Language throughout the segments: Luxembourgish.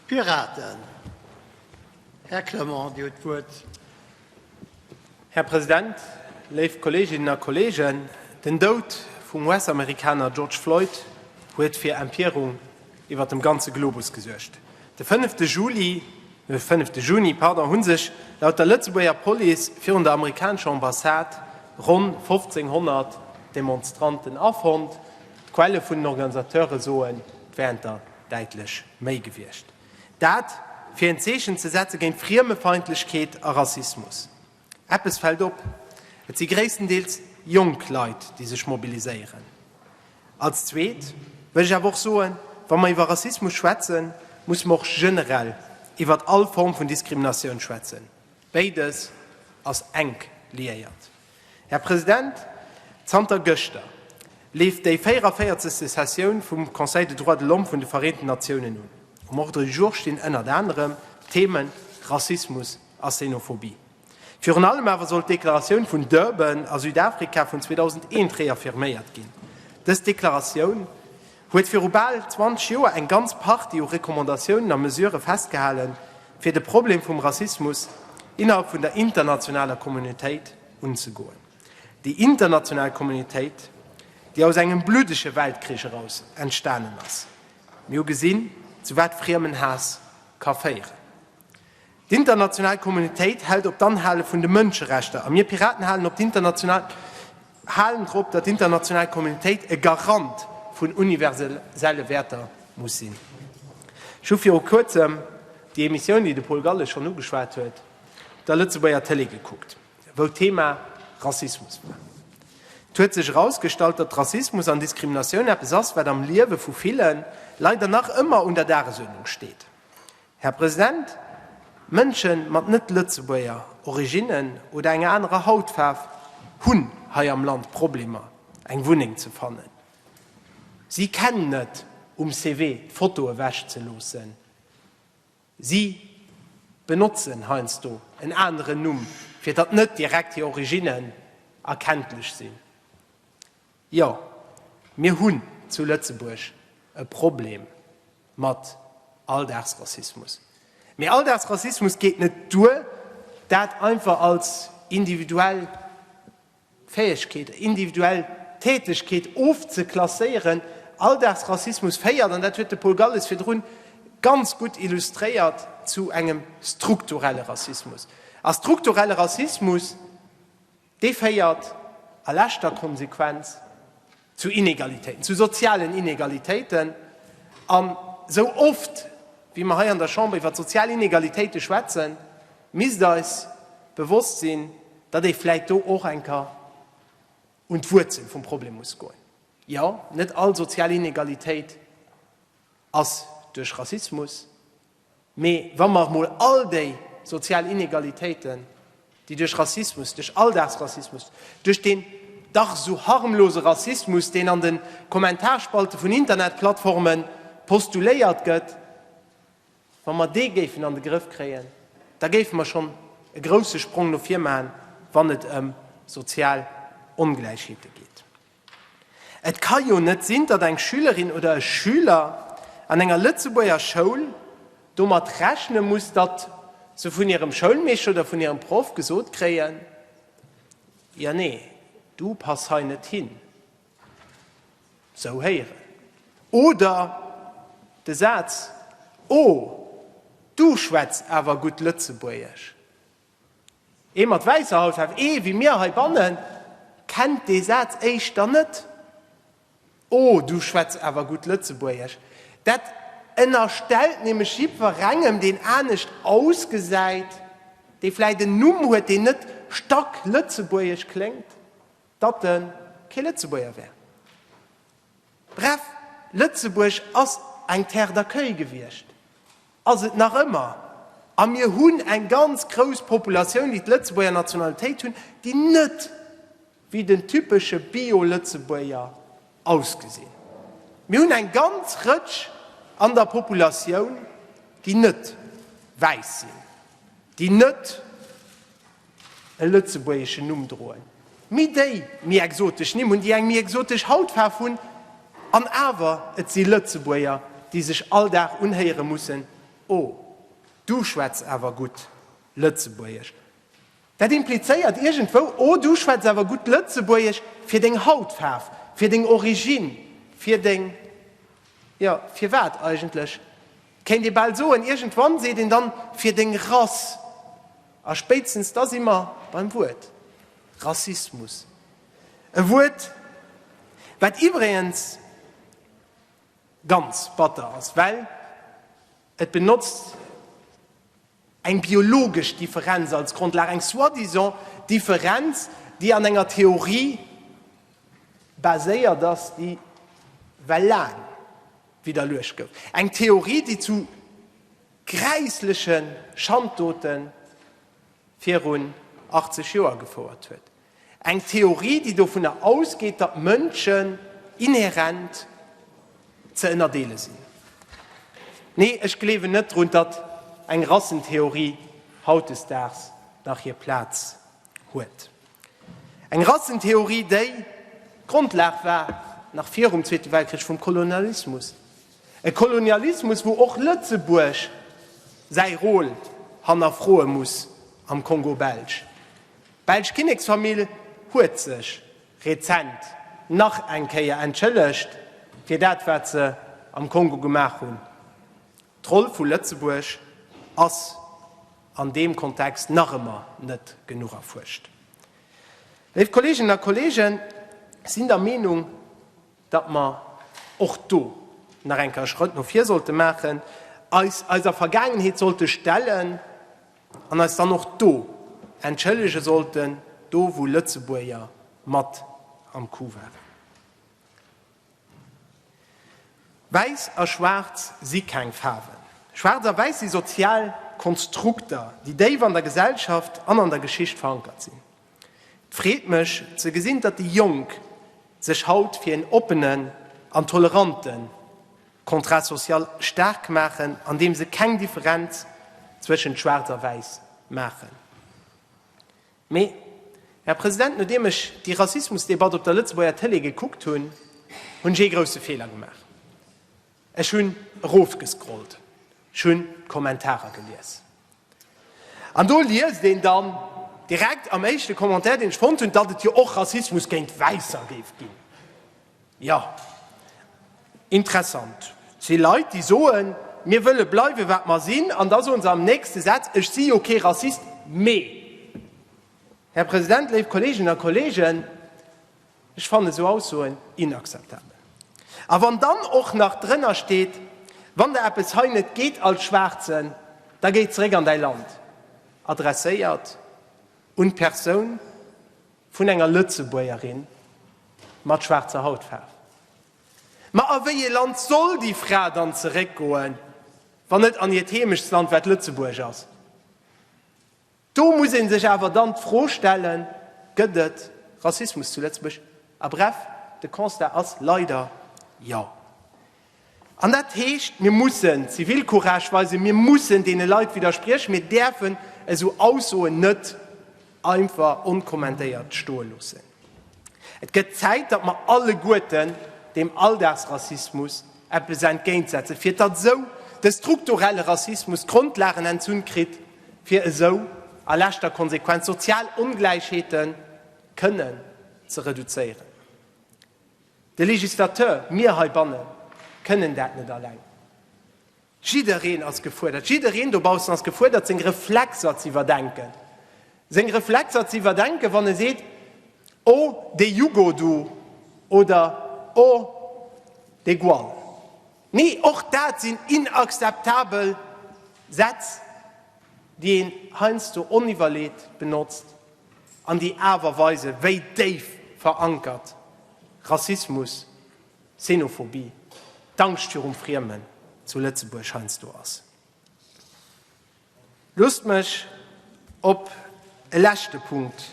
Piraten. Här Clement, Dir hutt d'Wuert. Här President, léif Kolleeginnen a Kolleegen, den Doud vum US-Amerikaner George Floyd huet fir Empierung iwwert dem ganze Globus gesuergt. De fënnefte Juli, fënnefte Juni, pardon, hu sech laut der Lëtzebuerger Police virun der amerikanescher Ambassade ronn 1.500 Demonstranten afonnt. D'Quelle vun den Organisateure soen, d'Wäerter däitlech méi gewiescht, dat fir en Zeechen ze setze géint Friemefeindlechkeet a Rassismus. Eppes fält op, Et si gréisstendeels jonk Leit, déi sech mobiliséieren. Als Zweet wëll ech awer och soen, Wa mer iwwer Rassismus schwätzen, musse mer och generell iwwert all Form vun Diskriminatioun schwätzen. Béides ass enk liéiert. Här President, zanter gëschter leeft déi 44. Sessioun vum Conseil de droits de l'homme vun de Vereenten Natiounen un. Um Ordre du jour stinn ënnert anerem d'Theme Rassismus a Xenophobie. Virun allem awer soll d'Deklaratioun vun Durban a Südafrika vun 2001 reaffirméiert ginn. Dës Deklaratioun, huet viru bal 20 Joer eng ganz Partie u Recommandatiounen a Mesurë festgehalen, fir de Problem vum Rassismus innerhalb vun der internationaler Communautéit unzegoen. Déi international Communautéit, déi aus engem bluddege Weltkrich eraus entstanen ass. Mir hu gesinn, zu wat Friemenhaass ka féieren. D'international Communautéit hält op d'Anhale vun de Mënscherechter, a mir Piraten halen op d'international halen drop, datt d'international Communautéit e Garant vun universelle Wäerter muss sinn. Ech hu viru kuerzem déi Emissioun, déi de Paul Galles schonn ugeschwat huet, op der Lëtzebuerger Tëlee gekuckt, wou d'Thema Rassismus war. Et huet sech erausgestallt, datt Rassismus an Diskriminatioun eppes ass, wat am Liewe vu ville Leit, an nach ëmmer, un der Dagesuerdnung steet. Här President, Mënsche mat net-Lëtzebuerger Originnen oder enger anerer Hautfaarf hunn hei am Land Problemer, eng Wunneng ze fannen. Si kennen net um CV d'Foto ewechzeloossen. Si benotzen heiansdo en aneren Numm, fir datt net direkt hir Originnen erkenntlech sinn. Jo, mir hunn zu Lëtzebuerg e Problem. Mat Alldagsrassismus. Mee Alldagsrassismus geet net duer, dat einfach als individuell Fäegkeet, individuell Tätegkeet ofzeklasséieren. Alldagsrassismus féiert, an dat huet de Paul Galles virdru ganz gutt illustréiert, zu engem strukturelle Rassismus. A strukturelle Rassismus. Dee féiert a leschter Konsequenz zu Inegalitéiten, zu sozialen Inegalitéiten. An esou oft wéi mer hei an der Chamber iwwert sozial Inegalitéite schwätzen, misst eis bewosst sinn, datt ee vläit do och enker un d'Wuerzel vum Problem muss goen. Jo, net all sozial Inegalitéit ass duerch Rassismus. Mee wa mer emol all déi sozial Inegalitéiten, déi duerch Rassismus, duerch Alldagsrassismus, duerch deen dach esou harmlose Rassismus, deen an de Kommentarspalte vun Internetplattforme postuléiert gëtt, wa mer dee géifen an de Grëff kréien, da géife mer schonn e grousse Sprong no vir maachen, wann et ëm sozial Ongläichheete geet. Et ka jo net sinn, datt eng Schülerin oder e Schüler an enger Lëtzebuerger Schoul domat rechne muss, datt se vun hirem Schoulmeeschter oder vun hirem Proff gesot kréien, Jo, nee, du pass hei net hin. Sou héieren. Oder de Saz, Oh, du schwätz awer gutt Lëtzebuergesch. Ee mat wäisser Hautfaarf, ee wéi mir heibannen, kennt dee Saz éischter net. Oh, du schwätz awer gutt Lëtzebuergesch. Dat ënnerstellt nämlech jiddwerengem, deen anescht ausgesäit, dee vläicht en Numm huet, deen net stacklëtzebuergesch kléngt, datt e kee Lëtzebuerger wär. Bref, Lëtzebuerg ass eng Terre d'accueil gewiescht, ass et nach ëmmer, a mir hunn eng ganz grouss Populatioun, déi d'Lëtzebuerger Nationalitéit hunn, déi net wéi den typesche Bio-Lëtzebuerger ausgesinn. Mir hunn eng ganz Rëtsch an der Populatioun, déi net wäiss sinn, déi net. e lëtzebuergeschen Numm droen, mee déi méi exotesch Nimm hunn, déi eng méi exotesch Hautfaarf hunn, an awer et si Lëtzebuerger, déi sech all Dag unhéiere mussen, Oh, du schwätz awer gutt Lëtzebuergesch. Dat implizéiert iergendwou, Oh, du schwätz awer gutt Lëtzebuergesch fir deng Hautfaarf, fir deng Origine, fir deng, jo, fir wat eigentlech? Kéint ee bal soen, iergendwann seet een dann fir deng Rass, a spéitstens da si mer beim Wuert Rassismus. E Wuert, wat iwwregens ganz batter ass, well et benotzt. Eng biologesch Differenz als Grondlag, eng soi-disant Differenz, déi an enger Theorie baséiert ass, déi well laang widderluecht gouf. Eng Theorie, déi zu gräissleche Schanddote virun 80 Joer gefouert huet. Eng Theorie, déi dovunner ausgeet, datt d'Mënschen inherent ze ënnerdeele sinn. Nee, ech gleewen net drun, datt eng Rassentheorie hautdesdaags nach hir Plaz huet. Eng Rassentheorie, déi d'Grondlag war, nach virum Zweete Weltkrich, vum Kolonialismus. E Kolonialismus, wou och Lëtzebuerg säi Rôle hannerfroe muss am Kongo Belge. D'belsch Kinneksfamill huet sech rezent nach eng Kéier entschëllegt fir dat wat se am Kongo gemaach hunn. D'Roll vu Lëtzebuerg ass an deem Kontext nach ëmmer net genuch erfuerscht. Léif Kolleeginnen a Kolleegen, ech sinn der Meenung, datt mer och do nach eng Kéier Schrëtt no vir sollte maachen, eis eiser Vergaangenheet sollte stellen an eis dann och do entschëllege sollten, do wou Lëtzebuerger mat am Coup waren. Wäiss a Schwaarz si keng Faarwen. Schwaarz a Wäiss si sozial Konstrukter, déi déif an der Gesellschaft an an der Geschicht verankert sinn. Et freet mech ze gesinn, datt déi Jonk sech haut fir een oppenen an tolerante Contrat social staark maachen, an deem se keng Differenz zwëschent Schwaarz a Wäiss maachen. Mee, Här President, nodeem ech déi Rassismusdebatt op der Lëtzebuerger Tëlee gekuckt hunn, hunn ech ee grousse Feeler gemaach. Ech hunn erofgescrollt, ech hunn d'Kommentarer gelies. An do liest een dann direkt am éischte Commentaire, deen ech fonnt hunn, datt et jo och Rassismus géint Wäisser géif ginn. Jo, interessant. Et si Leit, déi soen, mir wëlle bleiwe wat mer sinn, an da soe se am nächste Saz, ech si jo kee Rassist, mee. Här President, léif Kolleeginnen a Kolleegen, Ech fannen esou Aussoen inakzeptabel. A wann dann och nach drënner steet, Wann der eppes hei net geet als Schwaarzen, da géi zeréck an däi Land, adresséiert un d'Persoun vun enger Lëtzebuergerin mat schwaarzer Hautfaarf. Ma a wéi ee Land soll déi Fra dann zeréck goen, wann net an hiert Heemechtsland, wat Lëtzebuerg ass? Do muss ee sech awer dann d'Fro stellen, Gëtt et Rassismus zu Lëtzebuerg? A bref, de Constat ass leider Jo. An dat heescht, mir mussen Zivilcourage weisen, mir mussen deene Leit widderspriechen, mir däerfen esou Aussoen net einfach onkommentéiert stoe loossen. Et gëtt Zäit, datt mer alleguerten deem Alldagsrassismus eppes entgéintsetzen, fir datt esou de strukturelle Rassismus d'Grondlagen entzunn kritt, fir esou a leschter Konsequenz sozial Ongläichheete kënnen ze reduzéieren. De Législateur, mir heibanne kënnen dat net alleng. Jiddereen ass gefuerdert, jiddereen dobaussen ass gefuerdert seng Reflexer ze iwwerdenken, seng Reflexer ze iwwerdenken, wann e seet, Oh dee Jugo do oder Oh dee Gual. Nee, och dat sinn inakzeptabel Sätz, déi een heiansdo oniwwerleet benotzt an déi awer weisen, wéi déif verankert Rassismus, Xenophobie, d'Angscht virum Friemen zu Lëtzebuerg heiansdo ass. Loosst mech op e leschte Punkt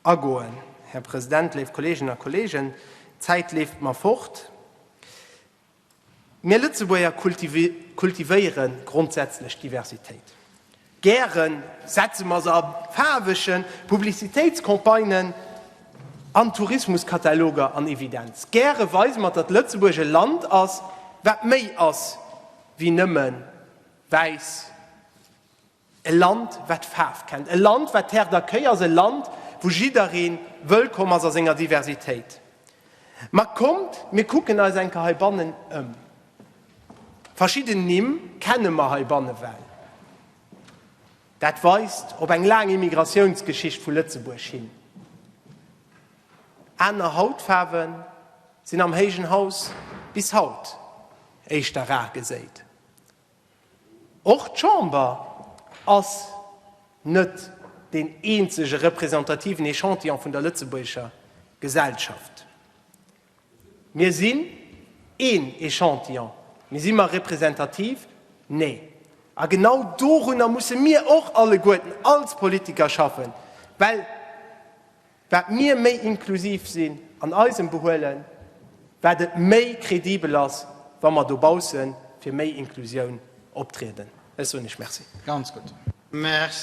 agoen, Här President, léif Kolleeginnen a Kolleegen, d'Zäit leeft mer fort. Mir Lëtzebuerger kultivéiere grondsätzlech d'Diversitéit. Gären setze mer se a faarwege Publicitéitscampagnen an Tourismuskataloger an Evidenz. Gäre weise mer, datt Lëtzebuerg e Land ass, wat méi ass wéi nëmme wäiss, e Land, wat Faarf kennt, e Land, wat Terre d'accueil ass, e Land, wou jidderee wëllkomm ass a senger Diversitéit. Ma kommt, mir kucken eis eng Kéier heibannen ëm. Verschidden Nimm kenne mer heibanne well. Dat weist op eng laang Immigratiounsgeschicht vu Lëtzebuerg hin. Aner Hautfaarwe sinn am Héijen Haus bis haut éischter rar geséit. Och d'Chamber ass net deen eenzege representativen Echantillon vun der lëtzebuergescher Gesellschaft. Mir sinn een Echantillon, mee si mer representativ? Nee. A genau dorunner musse mir och alleguerten als Politiker schaffen, well wat mir méi inklusiv sinn an eisem Behuelen, wat et méi kredibel ass, wa mer dobausse fir méi Inklusioun optrieden. Ech soen Iech Merci. Ganz gutt.